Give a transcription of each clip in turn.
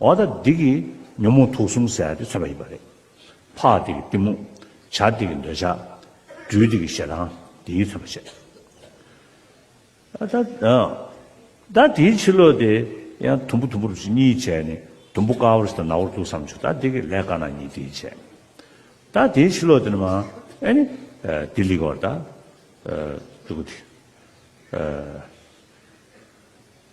འོ་ད་འདི་གི་ཉོན་མོངས་དུག་གསུམ་ཟད་དེ་མཚོན་པ་ཡིན་པ་རེད། འཕགས་འདི་གི་གཏི་མུག། བྱ་འདི་གི་འདོད་ཆགས། སྦྲུལ་འདི་གི་ཞེ་སྡང་འདི་ཡིས་མཚོན་པར་བྱེད། ད་དེའི་ཕྱིར་ལོ་དེ་ཡང་དུམ་བུ་དུམ་བུར་བྱེད་གཉིས་བྱས་ནས་དུམ་བུ་དཀར་བོར་ཟད་ན་འོར་དུག་བསམ་བྱུང་ད་འདི་གི་ལས་དཀར་ནག་གཉིས་དེས་བྱས། ད་དེའི་ཕྱིར་ལོ་དེ་ནི་མ་ཨེ་ནི། དེ་ལིག་བར་ད། དུག་གི།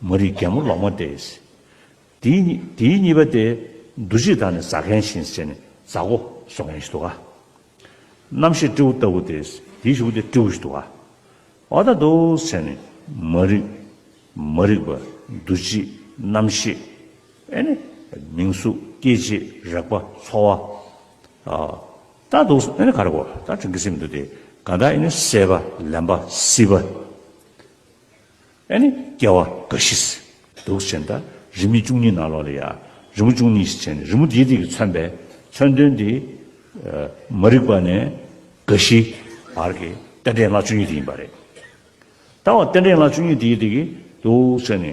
མ་རིག་རྒྱལ་མོ་ལོག་མ་སྟེ། དེའི་གཉིས་པ་སྟེ། འདུ་བྱེད་དང་ནི་ཟ་མཁན་བཞིན་ཟེར་ནས་ཟ་གོ་བཟོ་མཁན་ཞིག་འདུག་ག། རྣམ་ཤེས་སྤྲེའུ་ལྟ་བུ་སྟེ། དེའི་བཞི་པོ་སྟེ་སྤྲེའུ་ཞིག་འདུག་ག། བ་དག་ཏུ་ཟེར་ནས། མ་རིག། མ་རིག་པ། འདུ་བྱེད། རྣམ་ཤེས། ཨེ་ནི། མིང་གཟུགས། སྐྱེ་མཆེད། རེག་པ། ཚོར་བ། ལྟ་འདུག་ཨེ་ནི་ག་རེ་གོ། ད་དྲིན་གྱི་སེམས་མི་འདུག་སྟེ། གང་དག་ཨེ་ནི་བསད་པ། ལེན་པ། སྲིད་པ། ཨེ་ནི་སྐྱེ་བ་འགའ་ཞིག། དུག་ཅན་དག་རི་མི་བཅུ་གཉིས་ནང་ལོགས་ལ་ཡ། རི་མོ་བཅུ་གཉིས་ཞེས་བྱ་ནི་རི་མོ་དེའི་རིགས་ཀྱིས་མཚོན་པའི་མཚོན་དོན་ཏེ། མ་རིག་པ་ནས་འགའ་ཞིག་བར་གྱི་རྟེན་འབྲེལ་སྔགས་བཅུ་གཉིས་དེ་ཡིན་པ་རེད། ད་འོ་རྟེན་འབྲེལ་སྔགས་བཅུ་གཉིས་དེའི་རིགས་ཀྱིས་དུག་ཅན་ནི།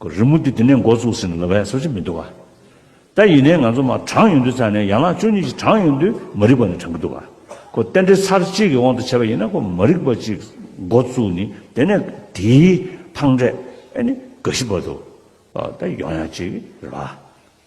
གོ། རི་མོ་འདི་དེ་ནས་འགོ་བཙུགས་ཟིན་ན་ལོ་བས་སོ་ཅི་མི་འདུག་ག། ད་ཡིན་ནའི་ང་ཚོ་མ་དྲངས་ཡོང་དུས་ཚར་ནས་ཡང་ལག་ཅོ་གཉིས་ཀྱིས་དྲངས་ཡོང་དུས་མ་རིག་པ་ནི་དྲངས་གི་འདུག་ག། གོ། རྟེན་འབྲེལ་ཚར་གཅིག་གི་དབང་དུ་བྱས་པ་ཡིན་ན་གོ་མ་རིག་པ་ཅིག་འགོ་བཙུགས་ནི་དེ་ནས་དེའི་ཐང་འབྲས་ཨེ་ནི་ག་ཞི་བ་འདུག་ག། ད་ཡོང་ཡང་ཅིག་རེད་བ།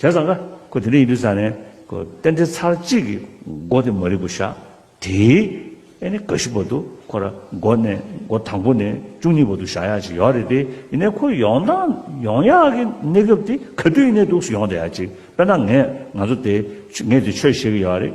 དེ་ཙང་ཀ། ཁོ་དེ་འདྲ་ཡིན་དུས་ཙང་ནས། ཁོ། རྟེན་འབྲེལ་ཚར་གཅིག་གི། མགོ་དེ་མ་རིག་པོ་ཤ། དེའི། ཨེ་ནི་ག་ཤི་བར་དུ། ཁོ་ར། མགོ་ནས། མགོ་དང་པོ་ནས། བཅུ་གཉིས་བར་དུ་ཤ་ཡག་ཅིག་ཡོད་རེད་དེ། ཡིན་ནའི་ཁོ་ཡོང་སྟངས། ཡོང་ཡག་གི་གནས་སྐབས་དེ། ག་དུས་ཡིན་ནའི་དུག་སུ་ཡོང་བསྡད་ཡག་ཅིག། དཔེར་ན་ངས། ང་ཚོ་དེ། ངས་དེ་ཆོས་བཤད་གི་ཡོད་རེད།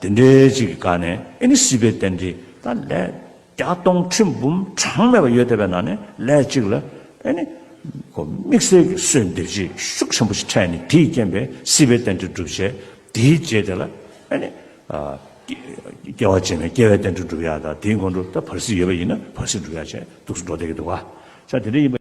དེ་འདྲའི་ཅིག་གི་སྐབས་ནས་ཨེ་ནི་སྲིད་པའི་རྟེན་འབྲེལ་ད་ལས་བརྒྱ་སྟོང་ཁྲི་འབུམ་གྲངས་མེད་པ་ཡོད་བསྡད་པའི་ནང་ནས་ལས་གཅིག་ལ་ཨེ་ནི། གོ་དམིགས་བསལ་གྱི་གསོས་འདེབས་བྱེད་ཤུགས་ཆེན་པོ་ཞིག་འཕྲད་ནས་དེའི་རྐྱེན་པས་སྲིད་པའི་རྟེན་འབྲེལ་འགྲུབ་བྱེད་དེའི་རྗེས་དེ་ལ་ཨེ་ནི། སྐྱེ་བ་ཅན་ནས་སྐྱེ་བའི་རྟེན་འབྲེལ་འགྲུབ་ཡག་དང་དེའི་འགོ་འགྲོ་ད་བར་སྲིད་ཡོད་པ་ཡིན་ན་བར་སྲིད་འགྲུབ་ཡག་བྱེད་དུག་སུ་འགྲོ་བསྡད་ཀྱི་འདུག་ག། ཆ་དེ་འདྲ་ཡིན་པ།